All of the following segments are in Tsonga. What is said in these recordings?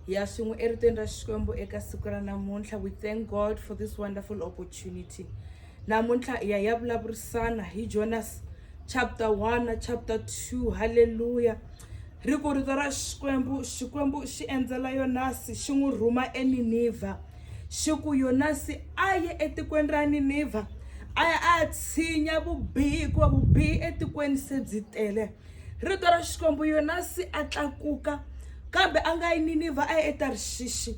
ya swin'we eritweni ra xikwembu eka siku ra namuntlha we thank god for this wonderful opportunity namuntlha ya ya vulavurisana hi jonas chapter 1 na chapter 2 halleluya ri ku rito ra xikwembu xikwembu xi endzela yonasi xi n'wi rhuma eninivha xi ku yonasi a ye etikweni ra ninivha a ya a ya tshinya vubihi hikuva vubihi etikweni se byi tele rito ra xikwembu yonasi a tlakuka kambe a nga yi ninivha a ya etarishishi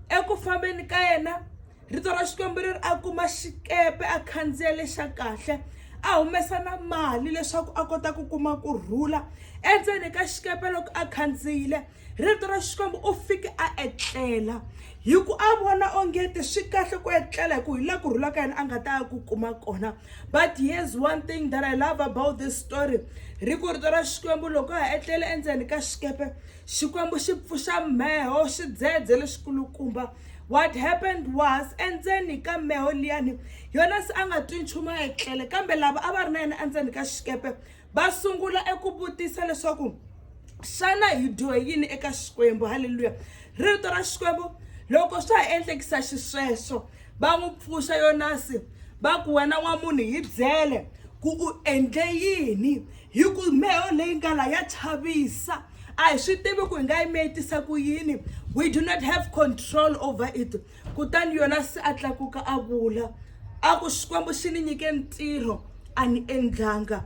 eku fambeni ka yena rito ra xikwembu ri ri a kuma xikepe a khandziya lexa kahle a humesa na mali leswaku a kota ku kuma ku rhula endzeni ka xikepe loko a khandziyile Rito ra Xikwembu, u fike a etlela hi ku a vona ongeti swi kahle ku etlela hi ku hi la ku rhula ka yena a nga ta ya ku kuma kona but here's one thing that i love about this story ri ku rito ra xikwembu loko a ha etlele endzeni ka xikepe xikwembu xi pfuxa meho xidzedze lexikulukumba what happened was endzeni ka meho liyani yona se a nga twi nchumu a etlele kambe lava a va ri na yena endzeni ka xikepe va sungula eku vutisa leswaku xana hi dyohe yini eka xikwembu halleluya rito ra xikwembu loko swa ha endlekisa xisweswo va n'wi pfuxa yonasi va ku wena n'wa munhu hi byele ku u endle yini hi ku meho leyi nga la ya chavisa a hi swi tivi ku hi nga yi miyetisa ku yini we do not have control over it kutani yonasi a tlakuka a vula a ku xikwembu xi ni nyike ntirho a ni endlanga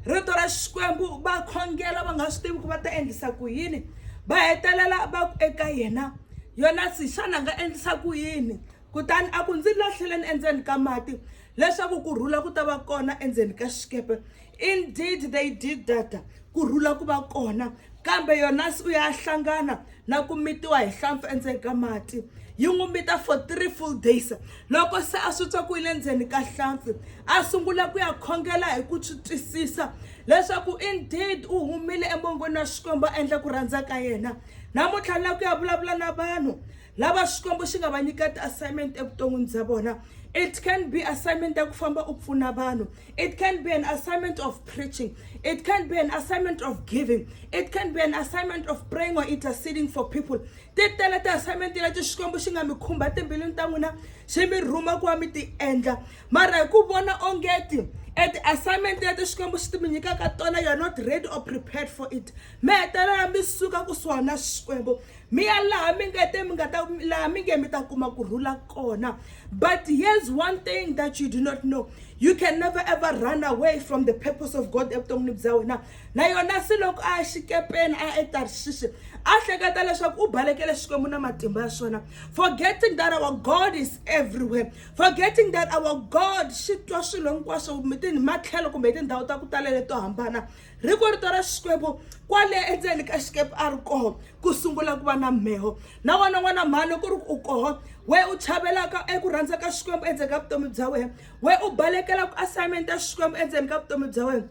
rito ra xikwembu va khongela va nga swi tivi ku va ta endlisa ku yini va hetelela va ku eka yena yonasi xana nga endlisa ku yini kutani a ku ndzi lahleleni endzeni ka mati leswaku ku rhula ku ta va kona endzeni ka xikepe Indeed they did that ku rhula ku va kona kambe yonasi u ya hlangana na ku mitiwa hi hlampfi endzeni ka mati yi n'wi mita for three full days loko se a swi twa ku yi le ndzeni ka hlampfi a sungula ku ya khongela hi ku swi twisisa leswaku indeed u humile emongweni wa xikwembu a endla ku rhandza ka yena namuntlha la ku ya vulavula na vanhu lava xikwembu xi nga va nyika ti-assignment evuton'wini bya vona it can be assignment ya ku famba u pfuna vanhu It can be an assignment of preaching. It can be an assignment of giving. It can be an assignment of praying or interceding for people. Ti tele ti assignment leti Xikwembu xi nga mi khumba timbilwini ta n'wina xi mi rhuma ku va mi ti endla. Mara hi ku vona ongeti e ti-assignment leti Xikwembu xi ti mi nyikaka tona you're not ready or prepared for it. Mi hetelela mi suka kusuhana na Xikwembu. mi ya laha mi nga te mi nga ta laha mi nge mi ta kuma ku rhula kona but here's one thing that you do not know you can never ever run away from the purpose of god evuton'wini bya wena na yona se loko a ya xikepeni a ya etarshishi a hleketa leswaku u balekele xikwembu na matimba ya swona forgetting that our god is everywhere forgetting that our god xi twa swilo hinkwaswo matlhelo kumbe hi tindhawu ta ku talela to hambana ri ku rito ra xikwembu kwale endzeni ka xikepe a ri koho ku sungula ku va na mheho na wena n'wana mhani loko ri u koho we u chavelaka eku rhandza ka xikwembu endzeni ka vutomi bya wena we u balekela ku assignment ya xikwembu endzeni ka vutomi bya wena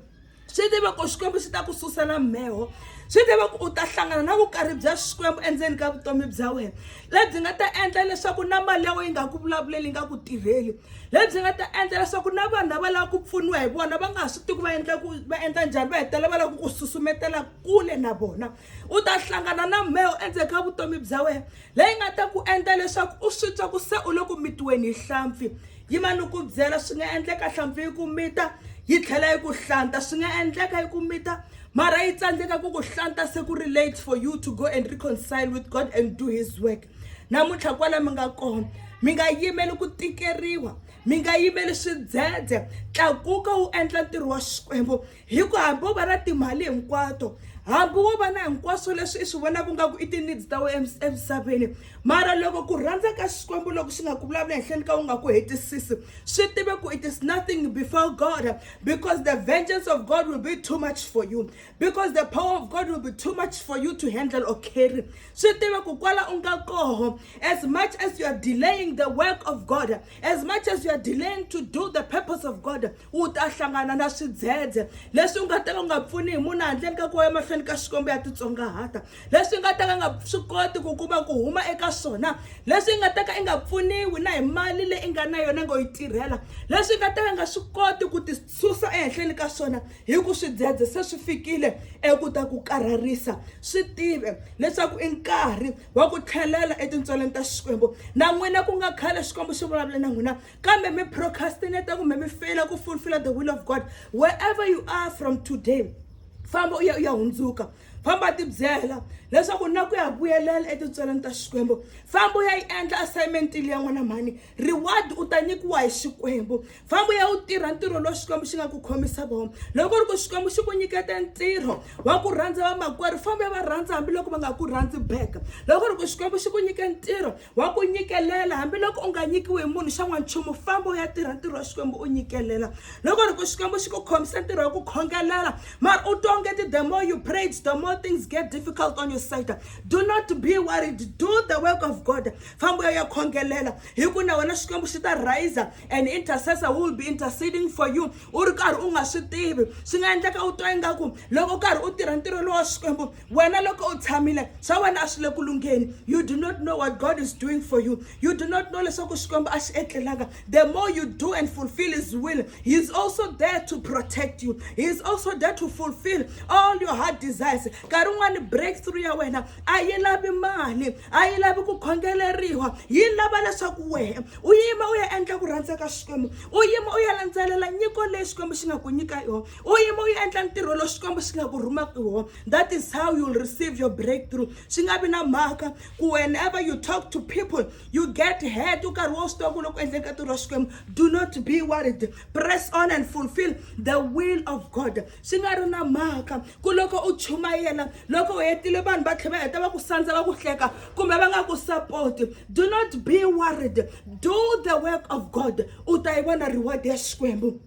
swi tiva ku xikwembu xi ta ku susela mheho swi tiva ku u ta hlangana na vukarhi bya xikwembu endzeni ka vutomi bya wena lebyi nga ta endla leswaku na mali ya wena yi nga ku vulavuleli yi nga ku tirheli lebyi nga ta endla leswaku na vanhu lava lava ku pfuniwa hi vona va nga ha swi tivi va endla ku va endla njhani va hetelela va lava ku ku susumetela kule na vona u ta hlangana na mheho endzeni ka vutomi bya wena leyi nga ta ku endla leswaku u swi twa ku se u le ku mitiweni hi hlampfi yima ni ku byela swi nga endleka hlampfi yi ku mita yi tlhela yi ku hlanta swi nga endleka yi ku mita mara yi tsandzeka ku ku hlanta se ku ri late for you to go and reconcile with god and do his work namuntlha kwala mi nga kona mi nga yimeli ku tikeriwa mi nga yimeli swidzedze tlakuka wu endla ntirho wa xikwembu hi ku hambi wo va na timali hinkwato hambi wo va na hinkwaswo leswi i swi vonaka nga ku i ti-needs ta we emisaveni mara loko ku rhandza ka xikwembu loko xi nga ku vulavula henhleni ka u nga ku hetisisi swi tive ku it is nothing before god because the vengeance of god will be too much for you because the power of god will be too much for you to handle or carry swi tiva ku kwala u nga koho as much as you are delaying the work of god as much as you are delaying to do the purpose of god u ta hlangana na swidzedze leswi u nga ta ka u nga pfuni hi munhu handleni ka kuwa emahlweni ka xikombo ya titsongahata leswi u nga ta ka nga swi koti ku kuma ku huma eka swona leswi i nga ta ka i nga pfuniwi na hi mali leyi i nga na yona ngo yi tirhela leswi i nga ta ka nga swi koti ku ti susa ehenhleni ka swona hi ku swidzedze se swi fikile eku ta ku karharisa swi tive leswaku i nkarhi wa ku tlhelela etintswaleni ta xikwembu na n'wina ku nga khale xikwembu xi vulavule na n'wina kambe mi procrastinate kumbe mi feyila ku fulfilla the will of god wherever you are from today famba u ya u ya hundzuka famba tibyela leswaku na ku ya vuyelela etintsweleni ta xikwembu famba u ya yi endla assignment leyi ya n'wana mhani reward u ta nyikiwa hi xikwembu famba ya wu tirha ntirho lowu xikwembu xi nga ku khomisa vona loko ri ku xikwembu xi ku nyikete ntirho wa ku rhandza vamakwerhu famba ya va rhandza hambiloko va nga ku rhandzi back loko ri ku xikwembu xi ku nyike ntirho wa ku nyikelela hambiloko u nga nyikiwi hi munhu xa n'wanchumu famba u ya tirha ntirho wa xikwembu u nyikelela loko ri ku xikwembu xi ku khomisa ntirho wa ku khongelela mara u twa onge ti the more you prayed the more things get difficult on your side do not be worried do the work of god famba u ya ya khongelela hi ku na wena xikwembu xi ta riser and intercessor who will be interceding for you u ri karhi u nga swi tivi swi nga endleka u twa ingaku loko u karhi u tirha ntirho lowa xikwembu wena loko u tshamile swa wena a swi le ku lungheni you do not know what god is doing for you you do not know leswaku xikwembu a xi etlelanga the more you do and fulfill his will he is also there to protect you he is also there to fulfill all your heart desires nkarhi un'wani breakthrough ya wena a yi lavi mali a yi lavi ku khongeleriwa yi lava leswaku wehe u yima u ya endla ku rhandza ka xikwembu u yima u ya landzelela nyiko leyi xikwembu xi nga ku nyika yona u yima u ya endla ntirho lowu xikwembu xi nga ku rhumaka yona that is how you'll receive your breakthrough swi nga vi na mhaka ku whenever you talk to people you get head u karhi wo swi tiva ku loko endleni ka ntirho wa xikwembu do not be worried press on and fulfill the will of god swi nga ri na mhaka ku loko u chumayela loko u hetile vanhu va tlhe va heta va ku sandza va ku hleka kumbe va nga ku sapoti do not be worried do the work of god u ta yi vona reward ya xikwembu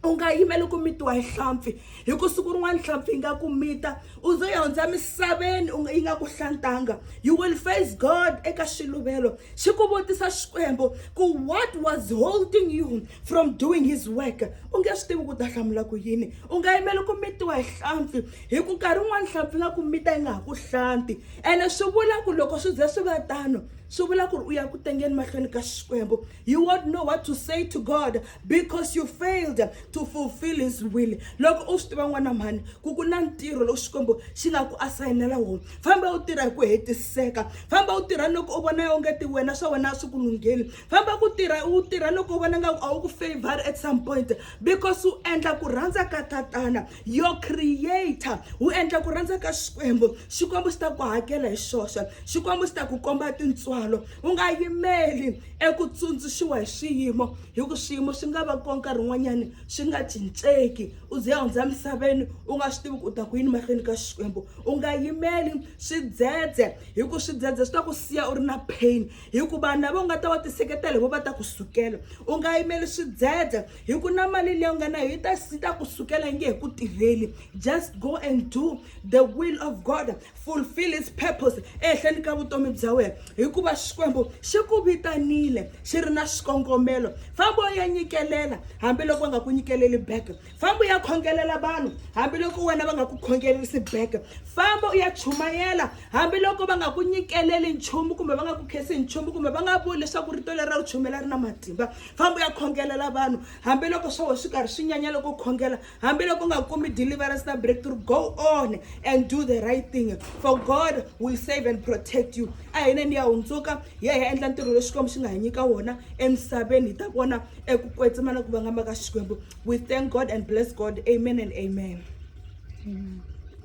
u nga yimeli ku mitiwa hi hlampfi hi ku siku rin'wana hlampfi yi nga ku mita u zo ya hundza misaveni u nga yi nga ku hlantanga you will face god eka xiluvelo xi ku vutisa xikwembu ku what was holding you from doing his work u nge swi tivi ku ta hlamula ku yini u nga yimeli ku mitiwa hi hlampfi hi ku nkarhi wun'wani hlampfi nga ku mita yi nga ha ku hlanti ene swi vula ku loko swi ze swi va tano swi vula ku ri u ya ku tengeni mahlweni ka xikwembu You won't know what to say to God because you failed to fulfill his will. Loko u swi tiva n'wana mhani ku ku na ntirho lowu Xikwembu xi nga ku asayinela wona. Famba u tirha hi ku hetiseka. Famba u tirha loko u vona onge ti wena swa wena a swi ku lungheli. Famba ku tirha u tirha loko u vona nga a wu ku favor at some point because u endla ku rhandza ka tatana. your creator wu endla ku rhandza ka xikwembu xikwembu xi ta ku hakela hi xoxe xikwembu xi ta ku komba tintswalo u nga yimeli eku tsundzuxiwa hi swiyimo hi ku swiyimo swi nga va ko nkarhi wun'wanyani swi nga cinceki u ze hundza misaveni u nga swi tivi ku u ta ku yini mahlweni ka xikwembu u nga yimeli swidzedze hi ku swidzedze swi ta ku siya u ri na pain hi ku vanhu lava u nga ta va tiseketela hi vo va ta ku sukela u nga yimeli swidzedze hi ku na mali leyi u nga nayo yi ta yi ta ku sukela yi nge hi ku tirheli just go and do the will of god fulfill his purpose ehenhleni ka vutomi bya wena hikuva xikwembu xi ku vitanile xi ri na xikongomelo famba u ya nyikelela hambiloko va nga ku nyikeleli back famba u ya khongelela vanhu hambiloko wena va nga ku khongelerisi back famba u ya chumayela hambiloko va nga ku nyikeleli nchumu kumbe va nga ku khesi nchumu kumbe va nga vuli leswaku rito leri ra ku chumela ri na matimba famba u ya khongelela vanhu hambiloko swo swi karhi swi nyanya loko khongela hambiloko u nga kumi deliverance na breakthrough go on and do the right thing for god will save and protect you a hina ni ya hundzuka hi ya hi ya endla ntirho lowu xikwembu xi nga hi nyika wona emisaveni hi ta vona eku kwetsima na ku vangama ka xikwembu we thank god and bless god amen and amen, amen.